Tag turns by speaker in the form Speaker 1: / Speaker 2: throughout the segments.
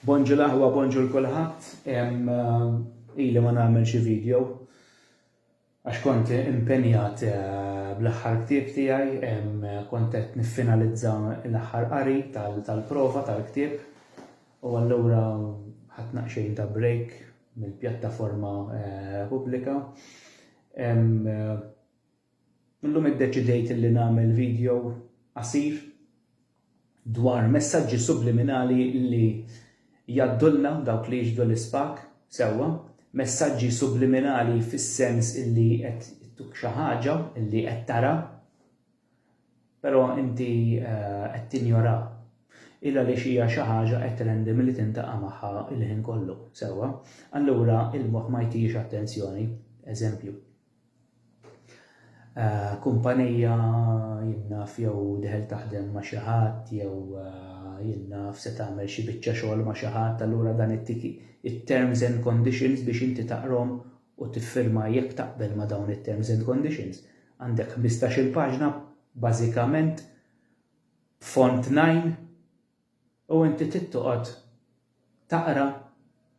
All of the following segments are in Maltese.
Speaker 1: Bonġu l-aħwa bonġu l-kulħadd ili ma nagħmel xi video għax kont impenjat bl-aħħar ktieb tiegħi kont qed niffinalizza l-aħħar qari tal-prova tal-ktieb u allura ħadd naqxejn ta' break mill-pjattaforma pubblika. Illum iddeċidejt li nagħmel video qasir dwar messaġġi subliminali li jgħaddulna dawk li jixhdu l-ispak sewwa. Messaġġi subliminali fis-sens illi qed ittuk xi ħaġa illi qed tara però inti qed tinjora il għaliex hija xi ħaġa qed trendi milli tintaqa' magħha l-ħin kollu sewwa. Allura il-moħħ ma jtihiex attenzjoni. Eżempju. kumpanija, jien naf, jew deħel taħdem ma' xi ħadd jew jien naf se tagħmel xi biċċa xogħol ma' xi ħadd allura dan ittik it-terms and conditions biex inti taqrhom u tiffirma jekk taqbel ma' dawn it-terms and conditions. Għandek 15-il paġna bażikament font 9 U inti trid toqgħod taqra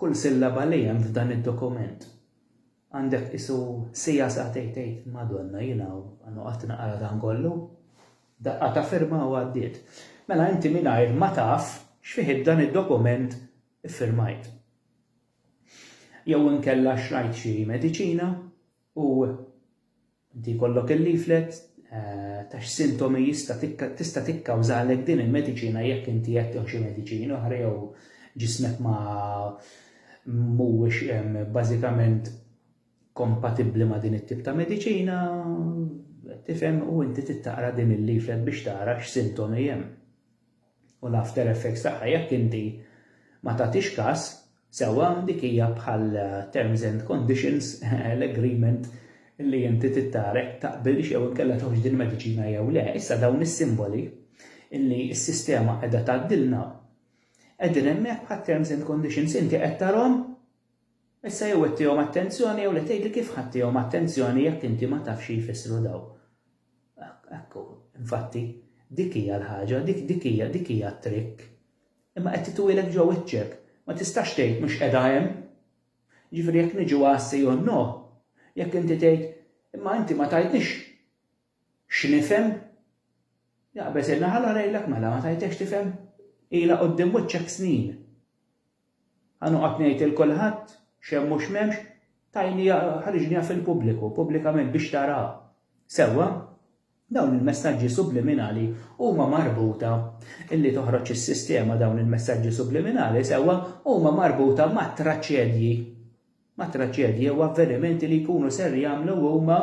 Speaker 1: kull sillaba li hemm f'dan id-dokument. Għandek qisu siegħa sagħtejn tgħid, Madonna jiena noqgħod naqra dan kollu? Daqqa ta' firma u għaddiet. Mela inti mingħajr ma taf x'fih dan id-dokument iffirmajt. Jew inkella xtrajt xi mediċina u inti jkollok il-leaflet ta' x'sintomi jista' tista' tikkawżalek din il-mediċina jekk inti qed tieħu xi mediċini oħra jew ġismek ma mhuwiex bażikament kompatibbli ma' din it-tip ta' mediċina, tifhem u inti tittaqra din il-leaflet biex tara x'sintomi hemm. u l-after effects tagħha jekk inti ma tagħtix kas sewwa dik hija bħal terms and conditions l-agreement li inti tittara jekk taqbilx jew inkella tieħux din il-mediċina jew le. Issa dawn is-simboli li s-sistema qiegħda tgħaddilna qegħdin hemmhekk bħal terms and conditions inti qed tarhom issa jew qed tihom attenzjoni jew le tgħidli kif ħadd tihom attenzjoni jekk inti ma tafx xi jfissru dawn. Ekku, infatti, dik hija l-ħaġa, dik dik hija dik hija t-trikk. Imma qed titwieled ġo wiċċek, ma tistax tgħid mhux qiegħda hemm. Jiġifieri jekk niġu għas jew no, jekk inti tgħid imma inti ma tajtnix x'nifhem, jaqbeż il-naħal għarejlek mela ma tajtekx tifhem ilha quddiem wiċċek snin. Ħa noqgħod ngħid lil kulħadd x'hemm u x'm'hemmx, tajniha, ħariġniha fil-pubbliku, pubblikament biex taraha. Sewwa, dawn il-messaġġi subliminali huma marbuta, li toħroġ is-sistema dawn il-messaġġi subliminali, sewwa, huma marbuta mat-traċedji. ma' traġedji jew avvenimenti li jkunu ser jagħmlu huma.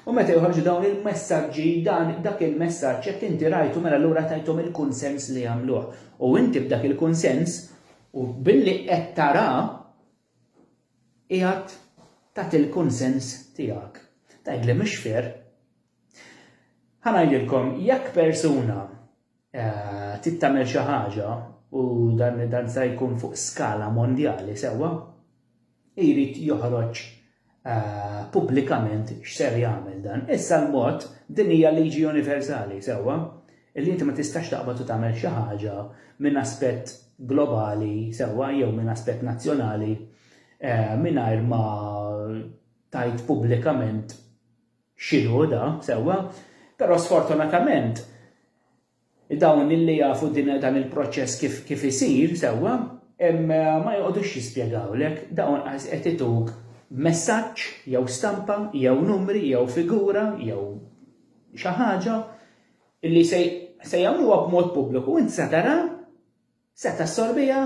Speaker 1: U meta joħorġu dawn il-messaġġi, dan, dak il-messaġġ, jekk inti rajtu mela allura tajthom il-kunsens li jagħmluh. U inti b'dak il-kunsens, u billi qed tara, qiegħed tagħti l-kunsens tiegħek. Tgħidli mhux fair. Ħa ngħidilkom, jekk persuna trid tagħmel xi ħaġa u dan dan se jkun fuq skala mondjali sewwa, jrid joħroġ Eh, pubblikament x'ser jagħmel dan. Issa l-mod din hija liġi universali sewwa li inti ma tistax taqbad u tagħmel xi ħaġa minn aspett globali sewwa jew minn aspett nazzjonali eh, mingħajr ma tajt pubblikament x'inhu da, sewwa, però sfortunatament dawn li jafu din dan il-proċess kif kif isir, sewwa, ma joqgħodux jispjegawlek, dawn qas qed ituk messaġġ jew stampa jew numri jew figura jew xi ħaġa li se se jagħmluha b'mod pubbliku u int se tara, se tassorbiha,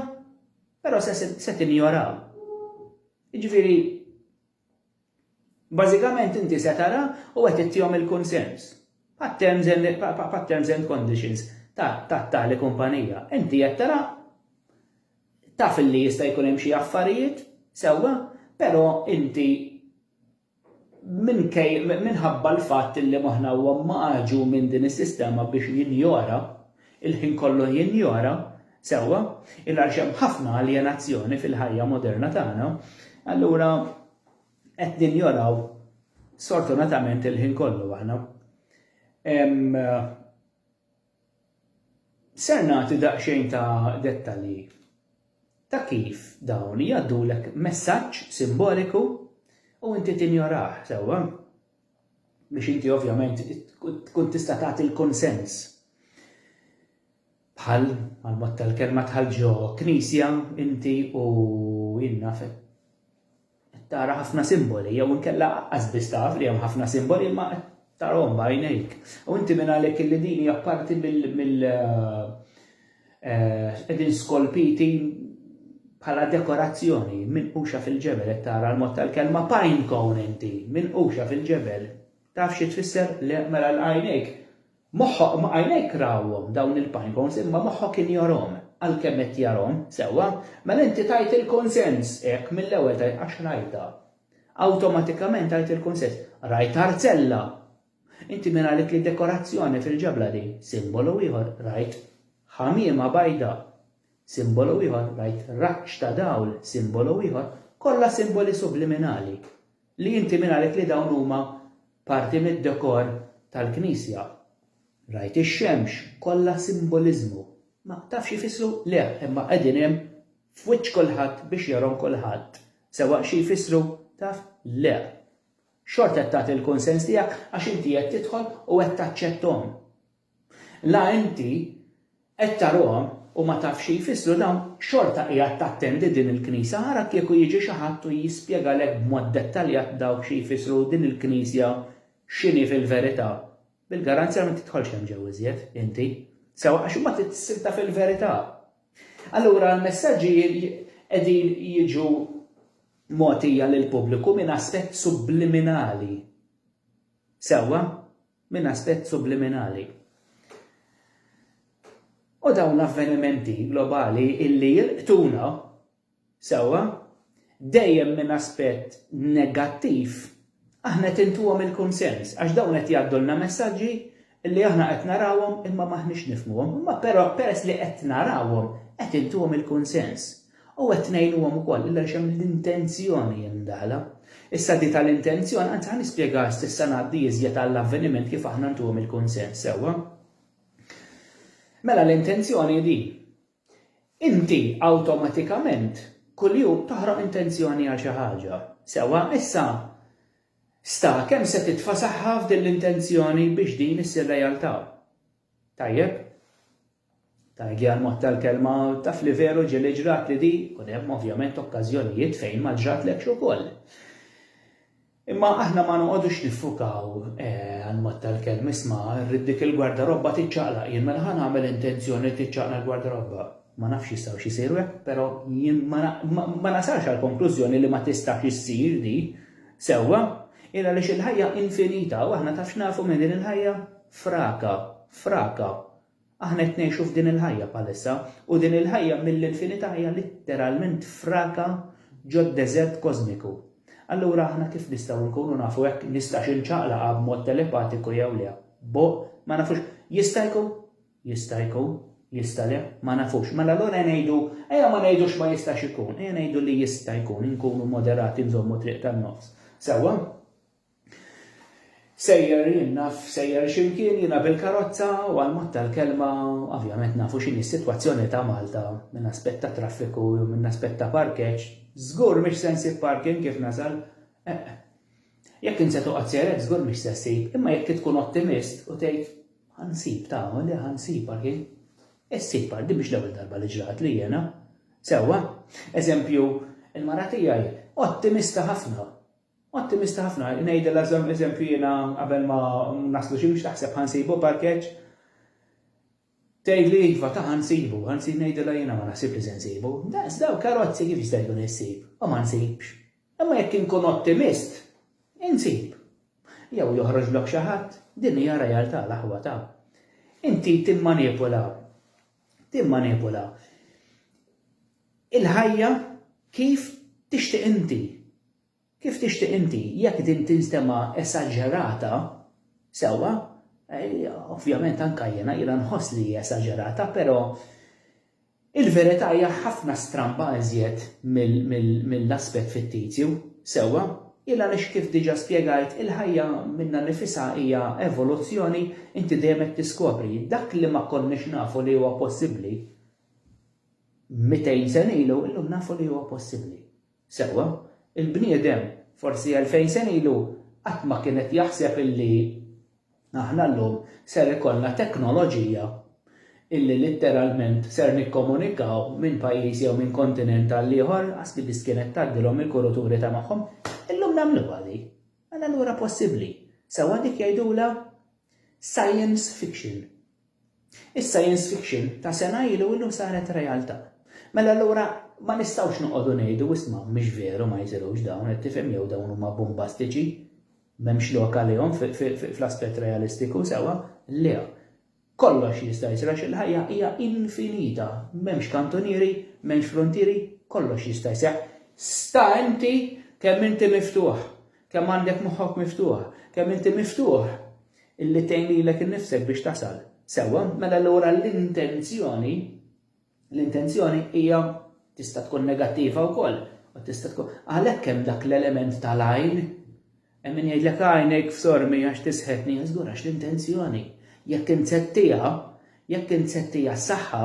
Speaker 1: però se se tinjoraha. Jiġifieri Bażikament inti se tara u qed ittihom il-kunsens bħat-terms and bħat-terms and conditions ta' tali kumpanija. Inti qed tara taf li jista' jkun hemm xi affarijiet, sewwa, però inti minkej minħabba l-fatt li moħħna huwa magħġun minn din is-sistema biex jinjora Il-ħin kollu jinjora, sewwa, il għaliex hemm ħafna aljenazzjoni fil-ħajja moderna tagħna, allura qed ninjoraw sfortunatament il-ħin kollu aħna. Ser nagħti daqsxejn ta' dettalji ta' kif dawn jgħaddulek messaġġ simboliku u inti tinjorah, sewwa. biex inti ovvjament tkun tista' tagħti l-kunsens. Bħal għal-mod tal-kelma tħal ġo knisja inti u jinna fe. Tara ħafna simboli, jew inkella qasbis taf li hemm ħafna simboli ma tarahom bajnejk. U inti minn għalhekk li din hija parti mill Qegħdin skolpiti bħala dekorazzjoni minquxa fil-ġebel qed tara l-mod tal-kelma pine cone inti, minquxa fil-ġebel. Taf xi tfisser? Le, mela l-għajnejk moħħok ma għajnejk rawhom dawn il-pine cones imma moħħok kien jarhom għalkemm qed jarhom, sewwa, mela inti tajt il-kunsens hekk mill-ewwel tajt għax rajtha. Awtomatikament tajt il-kunsens. Rajt arzella, Inti min qalek li dekorazzjoni fil-ġebla din? Simbolu ieħor, rajt ħamiema bajda. Simbolu ieħor, rajt raġġ ta' dawl. Simbolu ieħor, kollha simboli subliminali. Li inti min qalek li dawn huma parti mid-dekor tal-knisja? Rajt ix-xemx, kollha simboliżmu. Ma tafx jfissru? Le, imma qegħdin hemm f'wiċċ kulħadd biex jarhom kulħadd. Sewwa xi jfissru? Taf? Le. Xorta qed tagħti l-kunsens tiegħek għax inti qed tidħol u qed taċċetthom. La inti qed tarahom u ma tafx xi jfissru dawn, xorta qiegħed tattendi din il-Knisja. Ara kieku jiġi xi ħadd u jispjegalek b'mod dettaljat dawk xi jfissru u din il-Knisja x'inhi fil-verità, bil-garanzja ma tidħolx hemm ġew iżjed, inti. Sewwa għax imbagħad trid issibtha fil-verità. Allura l-messaġġi qegħdin jiġu mogħtija lill-pubbliku minn aspett subliminali. Sewwa? Minn aspett subliminali. U dawn l-avvenimenti globali illi jilqtuna, sewwa, dejjem minn aspett negattiv Aħna qed intuhom il-kunsens għax dawn qed jgħaddulna messaġġi li aħna qed narawhom imma m'aħniex nifhmuhom, imma però peress li qed narawhom qed intuhom il-kunsens u qed ngħinuhom ukoll illa għaliex hemm l-intenzjoni mdaħħla. Issa di tal-intenzjoni, anzi ħa nispjegaha s'issa ngħaddi iżjed għall-avveniment kif aħna ntuhom il-kunsens sewwa. Mela l-intenzjoni hi din. Inti awtomatikament kuljum toħroq intenzjoni għal xi ħaġa. Sewwa, issa sta kemm se titfa' saħħa f'din l-intenzjoni biex din issir realtà. Tajjeb? Tgħidli għall-mod tal-kelma, taf li veru ġieli ġratli din, ikun hemm ovvjament okkażjonijiet fejn ma ġratlekx ukoll. Imma aħna ma noqogħdux niffukaw, anmod tal-kelm, isma', irrid dik il-gwardarobba tiċċaqlaq, jien mela ħa nagħmel intenzjoni li tiċċaqlaq l-gwardarobba. Ma nafx jistgħux isiru hekk, però jien ma nasalx għall-konklużjoni li ma tistax issir di. Sewwa? Hi għaliex il-ħajja infinita u aħna taf x'nafu minn din il-ħajja? Fraka. Fraka. Aħna qed ngħixu f'din il-ħajja bħalissa, u din il-ħajja mill-infinità hija litteralment fraka ġod-deżert kożmiku. Allura aħna kif nistgħu nkunu nafu hekk nistax inċaqlaqha b'mod telepatiku jew le? Boh, ma nafux. Jista' jkun? Jista' jkun. Jista' le? Ma nafux. Mela allura ngħidu, ejja ma ngħidux ma jistax ikun, ejja ngħidu li jista' jkun, inkunu moderati nżommu triq tan-nofs. Sewwa? Sejjer jien naf sejjer x'imkien jiena bil-karozza u għal mod tal-kelma ovvjament nafu x'inhi s-sitwazzjoni ta' Malta minn aspett ta' traffiku jew minn aspett ta' parkeġġ, żgur mhix se nsib parking kif nasal, eħ. Jekk int se toqgħod sejr hekk żgur mhix se ssib imma jekk tkun ottimist u tgħid ħa nsib tama li ħa nsib parking, issib parking, din mhix l-ewwel darba li ġratli jiena. Sewwa, eżempju, il-mara tiegħi ottimista ħafna Ottimista ħafna, ngħidilha żomm eżempju jiena qabel ma naslu xi biex taħseb ħa nsibu parkeġġ, tgħidli iva ta' ħa nsibu, ħa nsib ngħidilha jiena ma naħsibx li se nsibu, daqs dawn karozzi kif jista' jkun issib u ma nsibx. Imma jekk inkun ottimist, insib. Jew joħroġlok xi ħadd, din hija realtà l-aħwa ta'. Inti timmanipula, timmanipula. Il-ħajja kif tixtieq inti. Kif tixtieq inti, jekk din tinstema' esaġerata, sewwa, ovvjament anke jiena, jiena nħoss li hi esaġerata, però il-verità hija ħafna stramba iżjed mill-aspett fittizju, sewwa, il għaliex kif diġa' spjegajt, il-ħajja minnha nnifisha hija evoluzzjoni, inti dejjem qed tiskopri, dak li ma konniex nafu li huwa possibbli. 200 sena ilu, illum nafu li huwa possibbli. Sewwa, il-bniedem forsi elfejn sena ilu qatt ma kien qed jaħseb illi aħna llum ser ikollna teknoloġija illi litteralment ser nikkomunikaw minn pajjiż jew minn kontinent għal ieħor, ħasbi biss kienet tgħaddilhom il-kuruturi ta' magħhom. Illum nagħmluha di. Mela allura possibbli. Sewwa dik jgħidulha science fiction. Is-science fiction ta' sena ilu illum saret realtà. Mela allura ma nistgħux noqogħdu ngħidu isma' mhux veru ma jsirux dawn qed tifhem jew dawn huma bumbastiċi m'hemmx lok għalihom fl-aspett realistiku sewwa. Le. Kollox jista' jsir għax il-ħajja hija infinita. M'hemmx kantunieri, m'hemmx fruntieri, kollox jista' jseħħ. Sta inti kemm inti miftuħ. Kemm għandek moħħok miftuħ? Kemm inti miftuħ illi tgħin lilek innifsek biex tasal? Sewwa, mela allura l-intenzjoni l-intenzjoni hija tista' tkun negattiva wkoll u tista' tkun għalhekk hemm dak l-element tal-għajn Hemm min jgħidlek għajnejk f'sormi għax tisħetni żgur għax l-intenzjoni. Jekk insettija, jekk insettija s-saħħa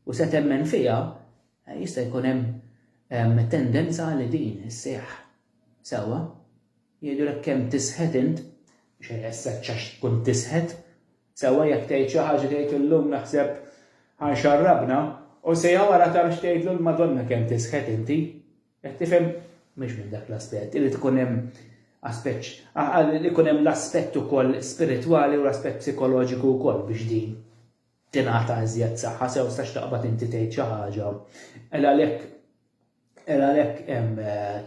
Speaker 1: u se temmen fiha, eh, jista' jkun hemm tendenza li din isseħħ. Sewwa, jgħidulek kemm tisħet int, mhux ħajħessek għax tkun tisħet. Sewwa jekk tgħid xi ħaġa tgħid illum naħseb ħa nxarrabna u siegħa wara taf x'tgħidlu l-Madonna kemm tisħet inti. Qed tifhem? Mhux minn dak l-aspett, irid ikun hemm aspett li jkun hemm l-aspett ukoll spiritwali u l-aspett psikoloġiku wkoll biex din tingħata iżjed saħħa sew sax taqbad inti tgħid xi ħaġa. Ela għalhekk Era għalhekk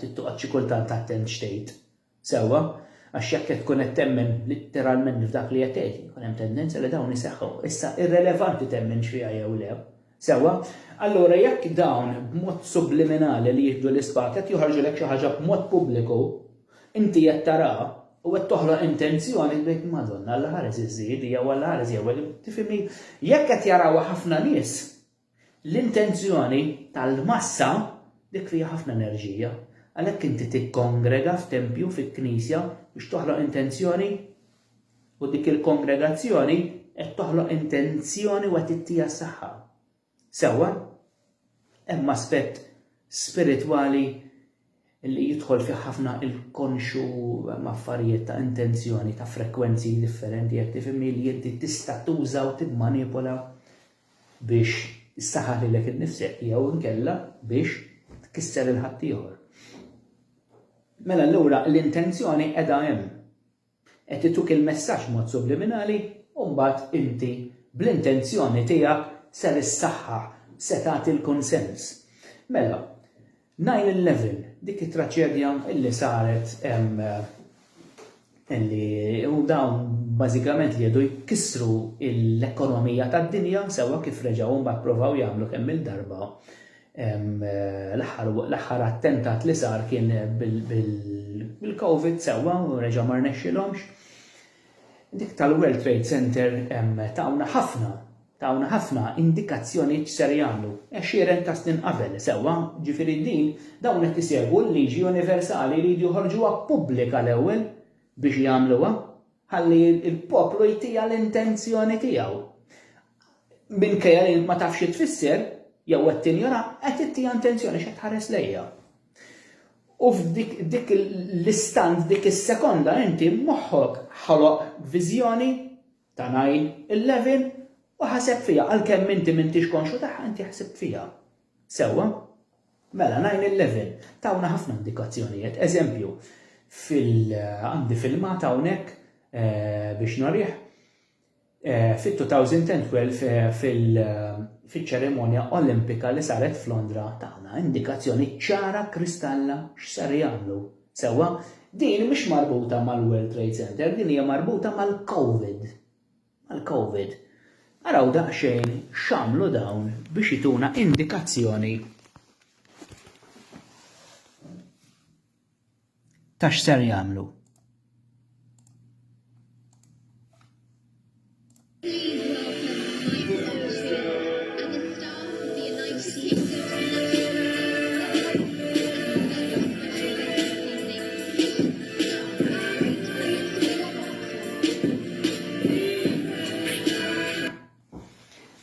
Speaker 1: trid toqgħod xi kultant attent x'tgħid. Sewwa? Għax jekk qed tkun qed temmen litteralment f'dak li qed tgħid, ikun hemm tendenza li dawn iseħħu. Issa, irrelevanti temminx fiha jew le. Sewwa? Allura jekk dawn b'mod subliminali li jieħdu l-ispat qed joħorġulek xi ħaġa b'mod pubbliku, inti qed taraha u qed toħloq intenzjoni li tgħid, Madonna, Alla ħares iż-żiedi jew Alla ħares jew tifhimni? Jekk qed jarawha ħafna nies, L-intenzjoni tal-massa dik fiha ħafna enerġija. Għalhekk inti tikkongrega f'tempju, fi knisja, biex toħloq intenzjoni u dik il-kongregazzjoni qed toħloq intenzjoni u qed ittiha s-saħħa. Sewwa? Hemm aspett spiritwali li jidħol fih ħafna il-konxu hemm affarijiet ta' intenzjoni ta' frekwenzi differenti jekk tifhimni li inti tista' tuża u timmanipola biex issaħħaħ lilek innifsek jew inkella biex tkisser il-ħaddieħor. Mela allura l-intenzjoni qiegħda hemm. Qed ituk il-messaġġ b'mod subliminali u mbagħad inti bl-intenzjoni tiegħek ser issaħħaħ, se tagħti l-kunsens. Mela, 9/11, dik it-traċedja li saret li u dawn bażikament li jedu jkissru l-ekonomija tad-dinja sewwa kif reġgħu mbagħad provaw jagħmlu kemm-il darba L-aħħar attentat li sar kien bil-Covid sewwa u reġa' ma rnexxilhomx. Dik tal-World Trade Center tawna ħafna, tawna ħafna indikazzjonijiet x'ser jagħmlu għexieren ta' snin qabel sewwa, jiġifieri din dawn qed isegwu l-liġi universali jridu joħorġuha pubblika l-ewwel biex jagħmluha. Ħalli l-poplu jtija l-intenzjoni tiegħu. Minkejja li ma tafx xi tfisser, jew qed tinjora, qed ittija intenzjoni x'qed tħares lejha. U f'dik l-istant, dik is-sekonda inti moħħok ħoloq viżjoni ta' najn il-levin u ħaseb fija għalkemm inti m'intix konxu tagħha inti ħsibt fija. Sewwa? Mela, nine eleven tawna ħafna indikazzjonijiet. Eżempju, għandi filmat hawnhekk biex norih fit-2012 fil-ċerimonja Olimpika li saret f'Londra tagħna indikazzjoni ċara kristalla x'ser jagħmlu. Sewwa, din mhix marbuta mal-World Trade Center, din hija marbuta mal-COVID. mal-Covid. Araw daqsxejn x'għamlu dawn biex ituna indikazzjoni ta' x'ser jagħmlu.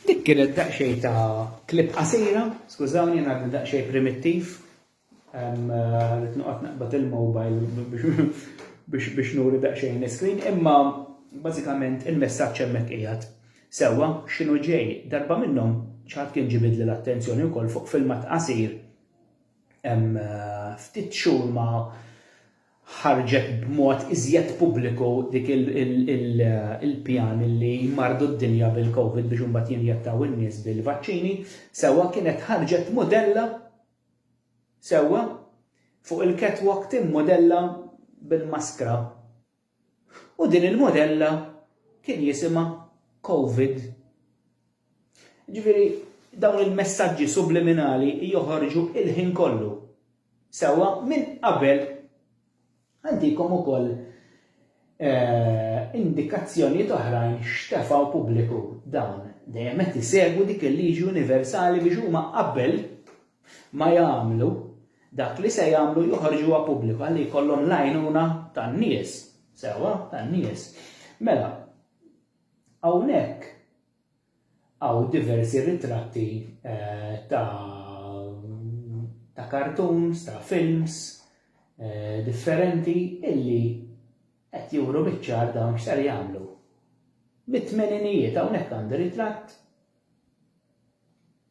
Speaker 1: Dik kienet daqsxejn ta' clip qasira, skużawni jien għadni daqsxejn primittiv, rrid noqgħod naqbad il-mobile biex nuri daqsxejn l-iscreen, imma bażikament il-messaġġ hemmhekk qiegħed sewwa x'inhu ġej. Darba minnhom xi ħadd kien ġibidli l-attenzjoni wkoll fuq filmat qasir, Hemm ftit xhur ma ħarġet b'mod iżjed pubbliku dik il-pjan li jmarrdu d-dinja bil-Covid biex imbagħad jinjettaw in-nies bil-vaċċini. Sewwa kienet ħarġet modella sewwa fuq il-catwalk timmodella bil-maskra U din il-modella kien jisimha Covid. Ġifieri dawn il-messaġġi subliminali joħorġu il-ħin kollu. Sewwa minn qabel għandikom ukoll eh, indikazzjonijiet oħrajn x'tefgħu pubbliku dawn dejjem qed isegwu dik il-liġi universali biex huma qabel ma jagħmlu, dak li se jagħmlu joħorġuha pubbliku ħalli jkollhom l-għajnuna tan-nies, sewwa, tan-nies. Mela, hawnhekk hawn diversi ritratti eh, ta' ta' cartoons, ta' films eh, differenti illi qed juru biċ-ċar dawn x'ser jagħmlu. Mit-tmeninijiet hawnhekk għandi ritratt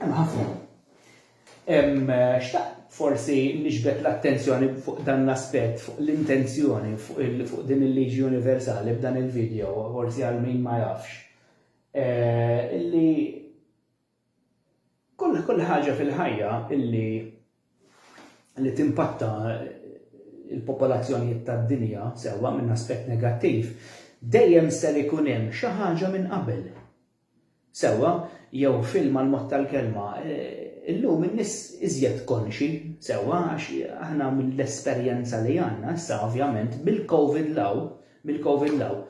Speaker 1: Hemm ħafna. Xtaqt forsi niġbed l-attenzjoni fuq dan l-aspett, fuq l-intenzjoni, fuq din il-liġi universali b'dan il-video, forsi għal min ma jafx. Illi kull kull ħaġa fil-ħajja illi li timpatta il-popolazzjonijiet tad-dinja sewwa minn aspett negattiv, dejjem ser ikun hemm xi ħaġa minn qabel. Sewwa, jew filma l-mod tal-kelma, illum in-nies iżjed konxji, sewwa, għax aħna mill-esperjenza li għandna issa ovvjament bil-Covid 'l hawn, mill-Covid 'l hawn,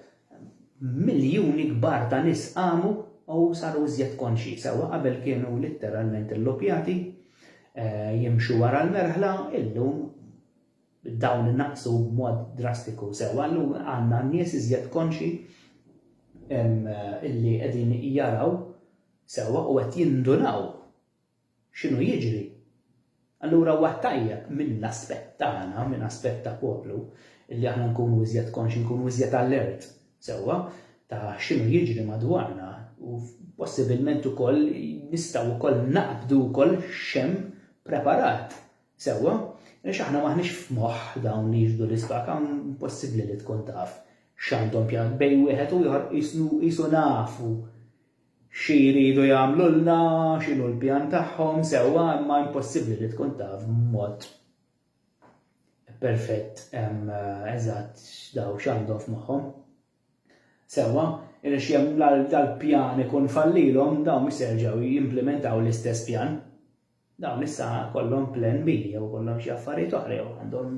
Speaker 1: miljuni kbar ta' nies qamu u saru iżjed konxji, sewwa, qabel kienu litteralment illuppjati, jimxu wara l-merħla, illum dawn inaqqsu b'mod drastiku sewwa, llum għandna nies iżjed konxji li qegħdin jaraw sewwa u qed jindunaw x'inhu jiġri. Allura huwa tajjeb minn aspett tagħna, minn aspett ta' poplu, li aħna nkunu iżjed konxji, nkunu iżjed allert sewwa ta' x'inhu jiġri madwarna u possibilment ukoll nistgħu wkoll naqbdu wkoll x'hemm preparat Sewwa, għaliex aħna m'aħniex f'moħħ dawn li jixhdu l-isbak, impossibbli li tkun taf x'għandhom pjan. Bejn wieħed u ieħor qisu nafu xi jridu jagħmlulna, x'inhu l-pjan tagħhom, sewwa imma impossibbli li tkun taf b'mod perfett eżatt daw x'għandhom f'moħħhom. Sewwa, għaliex jekk dal-pjan ikun fallilhom dawn mhux se jerġgħu jimplimentaw l-istess pjan. Dawn issa kollhom plan B jew ikollhom xi affarijiet oħra jew għandhom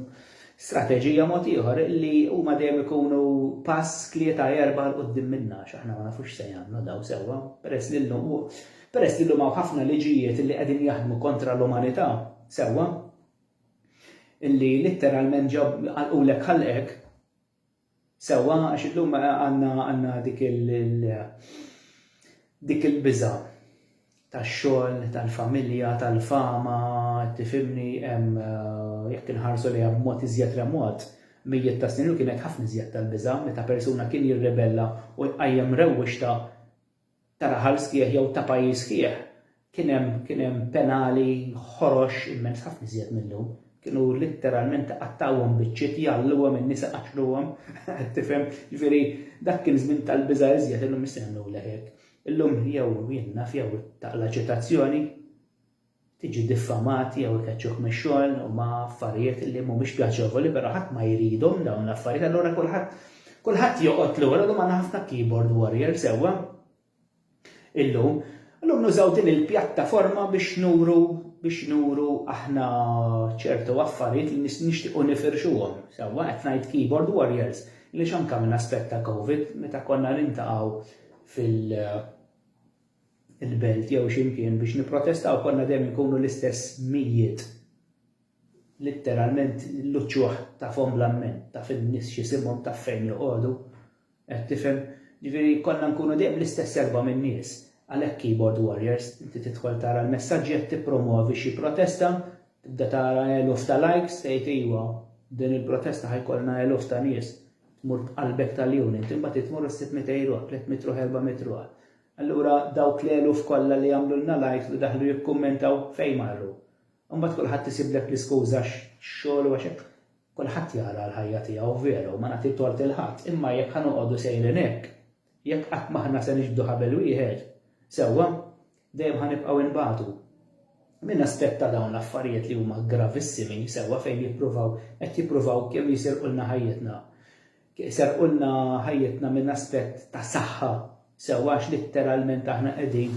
Speaker 1: strateġija mod ieħor li huma dejjem ikunu pass tlieta jew erba' 'l quddiem minna għax aħna ma nafux x'se jagħmlu dawn sewwa peress li llum hu peress li llum hawn ħafna liġijiet li qegħdin jaħdmu kontra l-umanità sewwa li litteralment ġab għalqulek ħalqek Sewwa, għax illum għandna, għandna dik il, il, dik il-biża' tax-xogħol, tal-familja, tal-fama, tifhimni, hemm, jekk inħarsu lejha b'mod iżjed remot, mijiet ta' snin ilu kienet ħafna iżjed tal-biża' meta persuna kien jirribella u jqajjem rewwixta ta' raħal sħiħ jew ta' pajjiż sħiħ, kien hemm, kien hemm penali ħorox immens, ħafna iżjed mil-lum. Kienu litteralment iqattgħuhom biċċiet, jgħalluhom in-nisa iqaċċluhom, qed tifhem? Jiġifieri dak kien żmien tal-biża' iżjed, illum issa jagħmlulek hekk. Illum jew jien naf jew taqla' ċitazzjoni, tiġi diffamat jew ikeċċuh mix-xogħol huma affarijiet li mhumiex pjaċevoli però ħadd ma jridhom dawn l-affarijiet allura kulħadd kulħadd joqgħod lura llum għandna ħafna keyboard warrior sewwa illum illum nużaw din il-pjattaforma biex nuru biex nuru aħna ċertu affarijiet li nixtiequ nifirxuhom sewwa qed ngħid keyboard warriors li x'anka minn aspett ta' covid meta konna nintaqgħu fil- il-belt jew xi mkien biex nipprotestaw konna dejjem inkunu l-istess mijiet. Litteralment l-uċuħ tafhom bla mmenn, taf in-nies x'isimhom, taf fejn joqogħdu. Qed tifhem? Ġifieri konna nkunu dejjem l-istess erba' minn nies. Għalhekk keyboard warriors, inti tidħol tara l-messaġġi qed tippromwovi xi protesta, tibda tara eluf ta' likes, tgħid iwa, din il-protesta ħa jkollna eluf ta' nies. Tmur b'qalbek tal-unit, imbagħad tmur u ssib 200 ruħ, 300 ruħ, 400 ruħ. Allura dawk l-eluf kollha li għamlulna l-għid u daħlu jikkummentaw fejn marru? Imbagħad kulħadd isiblek l-iskuża x-xogħol u għax hekk kulħadd jara l-ħajja tiegħu vera u ma nagħti tort lil ħadd imma jekk ħa noqogħdu sejrin hekk, jekk qatt m'aħna se niġbdu ħabel wieħed, sewwa, dejjem ħa nibqgħu inbatu. Min aspetta dawn l-affarijiet li huma gravissimi, sewwa fejn jippruvaw, qed jippruvaw kemm jisirqulna ħajjitna. Iserqulna ħajjitna minn aspett ta' saħħa sewwa għax litteralment aħna qegħdin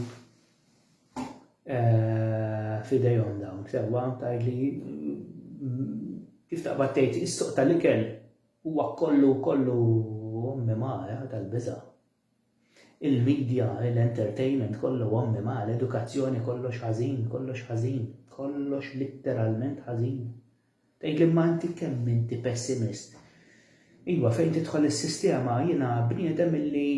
Speaker 1: eh, f'idejhom dawn sewwa tgħidli kif taqbad tgħid is-suq tal-ikel huwa kollu kollu mimara tal-biża' Il-media, l-entertainment kollu ommi ma, l-edukazzjoni kollox ħażin, kollox ħażin, kollox litteralment ħażin. Tgħidli imma inti kemm inti pessimist. Iva fejn tidħol is-sistema jiena bniedem illi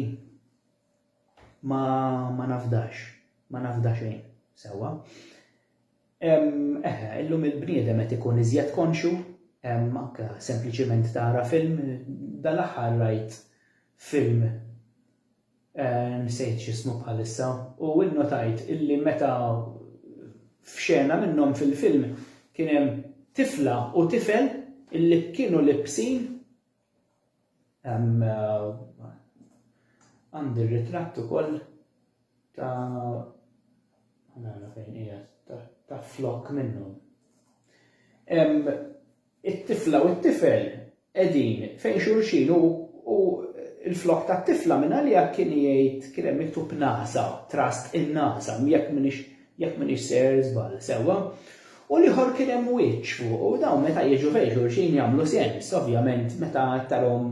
Speaker 1: ma, ma nafdax, ma nafda xejn. Sewwa. Eħe, illum il-bniedem qed ikun iżjed konxju, anke sempliċiment tara film, dal-aħħar rajt film nsejt x'ismu bħalissa u nnotajt illi meta f'xena minnhom fil-film kien hemm tifla u tifel illi kienu libsin Hemm għandi r-ritratt ukoll ta' għana fejn hija ta' flok minnu. Hemm it-tifla u t-tifel qegħdin fejn xulxin u l-flok tat-tifla minn għalija kien jgħid kien hemm miktub nasa, trust in nasa, jekk minix jekk m'iniex ser żball, sewwa, u l-ieħor kien hemm wiċċ fuq u dawn meta jiġu fejn xulxin jagħmlu sens, ovvjament meta tarahom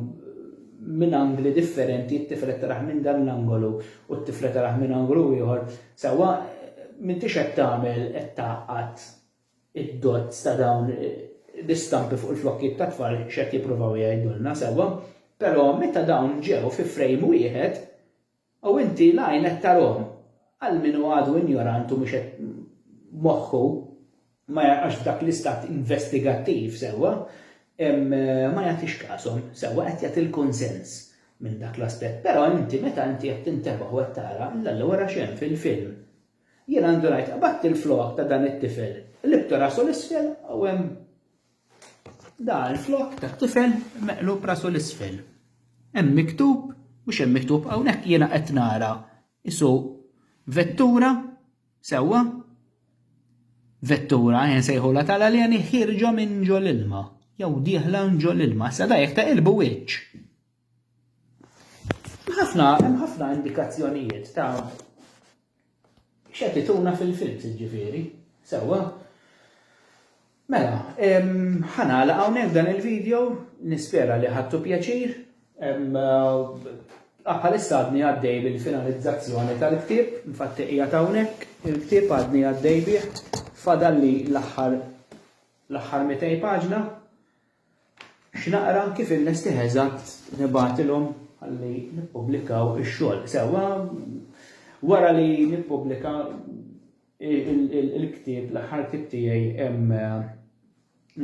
Speaker 1: minn angli differenti t-tifel qed tarah minn dan l-angolu u t-tifla tarah minn angolu ieħor, sewwa, m'intix qed tagħmel qed tgħaqqad id-dots ta' dawn l-istampi fuq il-flokkiet tat-tfal x'qed jippruvaw jgħidulna, sewwa, però meta dawn ġew fi frame wieħed U inti l-għajn qed tarahom. Għal min hu għadu injorant u mhux qed moħħu ma jarqax f'dak l-istat investigattiv sewwa, ma jagħtix kashom. Sewwa qed jagħti l-kunsens minn dak l-aspett. Però inti meta inti qed tintebaħ u qed tara, l-Alla wara x'hemm fil-film. Jiena ndunajt, qabadt il-flowaq ta' dan it-tifel, qlibt rasu 'l isfel u hemm Da l-flok ta' tifel meqlub rasu l-isfel. Hemm miktub, mhux hemm miktub, hawnhekk jiena qed nara isu vettura sewwa vettura jen sejħula tal-aljani ħirġa minn ġol ilma jew dieħla ġol ilma. Sa da jekk ta' ilbu wiċċ. Ħafna, hemm ħafna indikazzjonijiet ta' x'qed ituna fil-films ġifieri, sewwa. Mela, ħanala hawnhekk dan il-video, nispera li ħadtu pjaċir. Bħalissa għadni għaddej bil-finalizzazzjoni tal-ktieb, infatti qiegħed hawnhekk, il-ktieb għadni għaddej bih, fadalli l-aħħar l-aħħar 200 paġna, X'naqra, kif inlestih eżatt, nibgħatilhom ħalli nippubblikaw ix-xogħol. Sewwa, wara li nippubblika il-ktieb, l-aħħar ktieb tiegħi hemm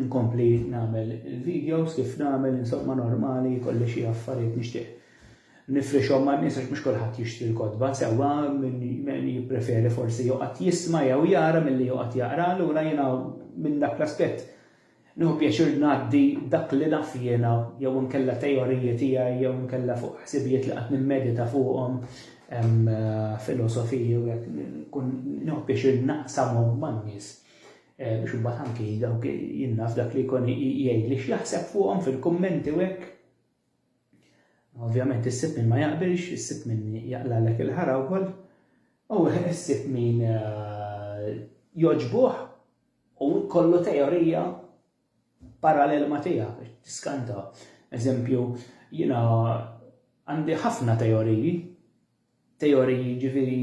Speaker 1: nkompli nagħmel il-videos kif nagħmel insomma normali kolli xi affarijiet nixtieq. Nifrixhom ma' nies għax mhux kulħadd jixtri l-kotba sewwa min jippreferi forsi joqgħod jisma' jew jara milli joqgħod jaqra allura jiena minn dak l-aspett Nieħu pjaċir ngħaddi dak li naf jiena jew inkella teoriji tiegħi jew inkella fuq ħsibijiet li qatt nimmedita fuqhom, filosofiji u hekk, nkun nieħu pjaċir naqsamhom man-nies biex imbagħad anki dawk jien naf dak li jkun jgħidli x'jaħseb fuqhom fil-kummenti u hekk. Ovvjament issib min ma jaqbilx, issib min jaqlalek il-ħara wkoll u issib min jogħġbuh. U jkollu teorija parallel ma' tiegħek biex tiskanta. Eżempju, jiena għandi ħafna teoriji, teoriji ġifieri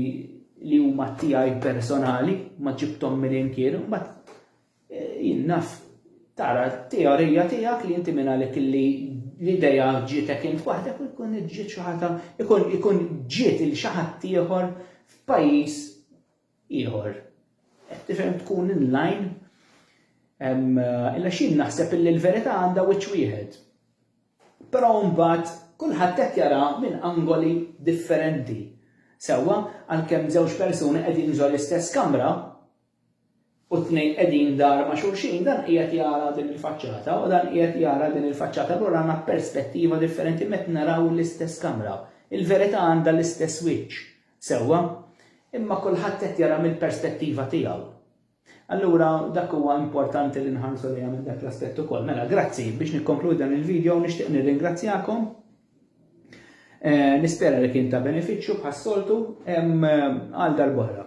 Speaker 1: li huma tiegħi personali, ma ġibthom minn imkien, mbagħad eh, jien naf tara teorija tiegħek li inti minn għalek li l-ideja ġietek int waħdek u jkun ġiet xi ħadd ikun ikun ġiet il xi ħadd ieħor f'pajjiż ieħor. Qed tifhem tkun in line illa x'jien naħseb illi l-verità għandha wiċċ wieħed. Però mbagħad kulħadd qed jara minn angoli differenti. Sewwa, għalkemm żewġ persuni qegħdin ġo l-istess kamra u t-tnejn qegħdin dar ma' xulxin, dan qiegħed jara din il-faċċata u dan qiegħed jara din il-faċċata lura għandna perspettiva differenti meta naraw l-istess kamra. Il-verità għandha l-istess wiċċ. Sewwa, imma kulħadd qed jara mill-perspettiva tiegħu. Allura dak huwa importanti li nħarsu lejha minn dak l-aspett ukoll. Mela, grazzi biex nikkonkludi dan il-video nixtieq nirringrazzjakom. Eh, nispera li kien ta' benefiċċju bħas-soltu eh, għal darb'oħra.